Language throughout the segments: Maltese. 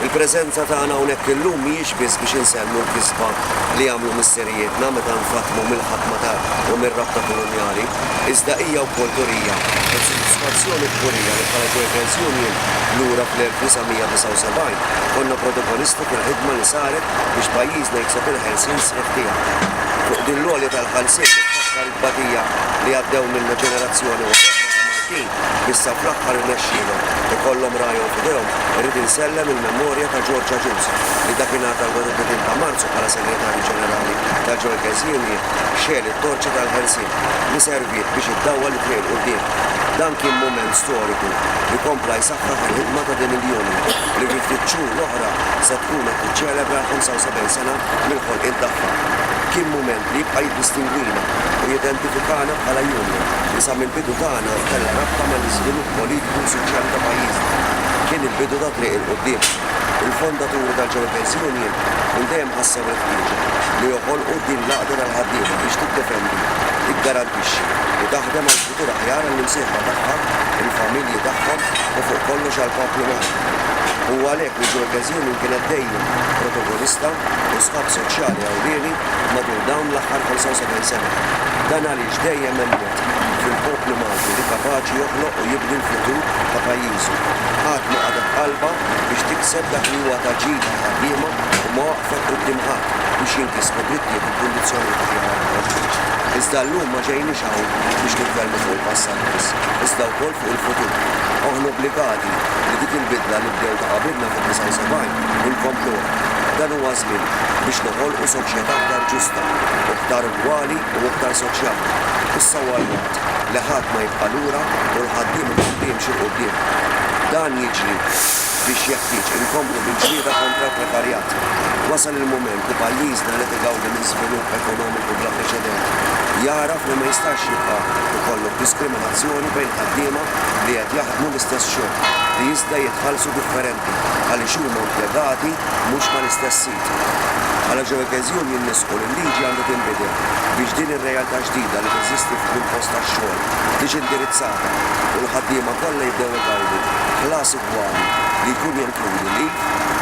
Il-preżenza tagħna hawnhekk illum mhijiex biss biex insellmu l-kisba li għamlu missirijietna meta nfaddmu mill-ħakma ta' u mir-rabta kolonjali, iżda hija wkoll turija ta' sodisfazzjon u kburija li bħala Workers Union lura fl-1979 konna protagonisti fil-ħidma li saret biex pajjiżna jikseb il-ħelsien sħiħ tiegħu. Fuq din l-għolja tal-ħelsien niftakar it-tbatija li għaddew minnha ġenerazzjoni wara oħra ta' Maltin Issa fl-aħħar irnexxielhom. Ikollhom ragħajhom f'idejhom. Irrid insellem il-memorja ta' George Agius, li dakinhar tal-31 ta' Marzu bħala Segretarju Ġenerali ta' Joycans Union xegħel it-torċa tal-ħelsien, li serviet biex iddawwal it-triq 'l quddiem. Dan kien mument storiku li kompla jsaħħaħ il-ħidma ta' din il-union, li fi ftit xhur oħra se tkun qed tiċċelebra l-75 sena mill-ħolqien tagħha. Kien mument. li jibqa' jiddistingwina u jidentifikana bħala union li sa mill-bidu tagħna kellha rabta mal-iżvilupp politiku u soċjali ta' pajjiżna, kien il-bidu ta' triq 'il quddiem. Il-fondaturi tal-Ġewerters Union minn dejjem ħassew il-ħtieġa li joħolqu din l-għaqda tal-ħaddiema biex tiddefendi, tiggarantixxi u taħdem għal futur aħjar għall-imsieħba tagħha, il-familji tagħhom u fuq kollox għall-poplu Malti. Huwa għalhekk li l-Ġewerters Union kienet dejjem protogonista u sħab soċjali ewlieni matul dawn l-aħħar 75 sena. Dan għaliex dejjem hemm mod fil-poplu Malti li kapaċi joħloq u jibni l-futur ta' pajjiżu. Qatt ma qagħdet qalbha biex tikseb dak li huwa ta' ġid għall-ħaddiema u ma waqfet quddiem ħadd biex jinkisbu drittijiet u kundizzjonijiet aħjar għall-ħaddiema. Iżda llum ma ġejniex hawn biex nitkellmu fuq il-passat biss, iżda wkoll fuq il-futur. Aħna obbligati li dik il-bidla li bdew ta' qabilna fid-79 inkompluha. Dan huwa naħdmu biex noħolqu soċjetà aktar ġusta, aktar ugwali u aktar soċjali. Issa huwa l-waqt li ħadd ma jibqa' lura u l-ħaddiem ikun li jimxi 'l quddiem. Dan jiġri biex jeħtieġ inkomplu bil-ġlieda kontra l-prekarjat. Wasal il-mument li pajjiżna li qed igawdi minn żvilupp ekonomiku bla preċedent jagħraf li ma jistax jibqa' jkollok diskriminazzjoni bejn ħaddiema li qed jaħdmu l-istess xogħol li iżda jitħallsu differenti għaliex huma impjegati mhux mal-istess siti. Bħala ġeokeżjun jien nisħqu li l-liġi għandha tinbidel biex din ir-realtà ġdida li teżisti fuq il-post tax-xogħol tiġi indirizzata u l-ħaddiema kollha jibdew igawdu ħlas ugwali li jkun jenkludi leave,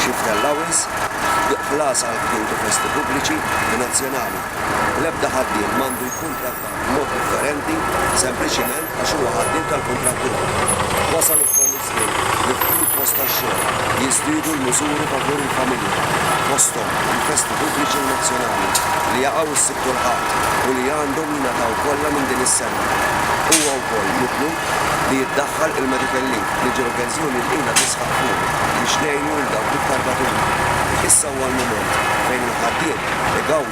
shift allowance, ħlas għall-qtugħ u festi pubbliċi u nazzjonali. L-ebda ħaddiem m'għandu jkun trattat. b'mod differenti sempliċiment għax huwa ħaddiem tal-kuntrattur. Wasal ukoll iż-żmien li f'kull post tax-xogħol jiżdiedu l-miżuri favur il-familja, fosthom il-festi pubbliċi u nazzjonali li jaqgħu s-Sibt u l-Ħadd u li għandhom jingħataw kollha minn din is-sena. Huwa wkoll mitlub li jiddaħħal il-medical leave li ġie l-pensjoni li ilha tisħaq fuqu biex ngħinu lil dawk l-iktar batuti. Issa huwa l-mument fejn il-ħaddiem igawdi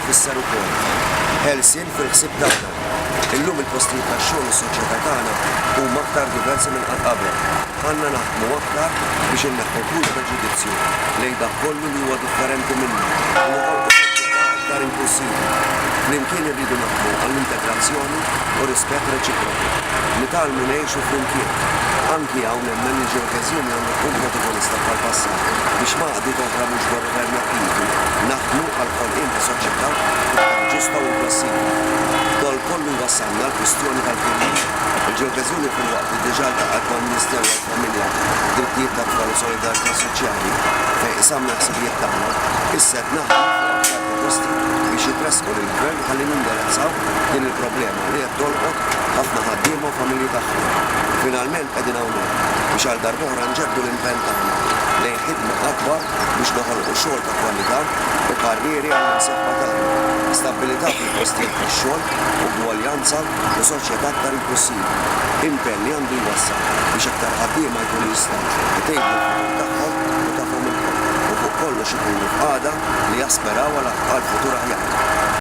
tfisser ukoll ħelsien fil-ħsieb tagħna. Illum il-postijiet tax-xogħol u s-soċjetà tagħna huma aktar diversi minn qatt qabel. Għandna naħdmu aktar biex inneħħu kull preġudizzju lejn dak kollu li huwa differenti minna u noħolqu soċjetà aktar inklussiva. Flimkien irridu naħdmu għall-integrazzjoni u rispett reċiproku. Nitgħallmu ngħixu flimkien. Anki hawn nemmen li ġeokeżjoni għandha tkun protagonista bħall-passat biex ma. Ħadu kontra mhux governattivi naħdmu għall-ħolqien ta' soċjetà iktar ġusta u inklussiva. F'dol kollu jwassalna għall-kwistjoni tal-figħim. Il-Ġewbeżuni filwaqt li diġà ltaqgħet mal-Ministeru għall-Familja, Drittijiet tat-Tfal u Solidarità Soċjali fejn qsamna l-ħsibijiet tagħna, issa qed naħdmu fuq aktar proposti biex jitressqu lill-Gvern ħalli nindirezzaw din il-problema li qed tolqot ħafna ħaddiema u familji tagħhom. Finalment qegħdin hawnhekk biex għal darb'oħra nġeddu l-impenn tagħna lejn Ħidma akbar biex noħolqu xogħol ta' kwalità u karrieri għall-imsieħba tagħna, stabbilità fil-postijiet tax-xogħol, ugwaljanza u soċjetà aktar inklussiva. Impenn li għandu jwassal biex aktar ħaddiema jkunu jistgħu jtejbu l-futur tagħhom u tagħhom ilkoll u fuq kollox ikunu f'qagħda li jasperaw għal futur aħjar.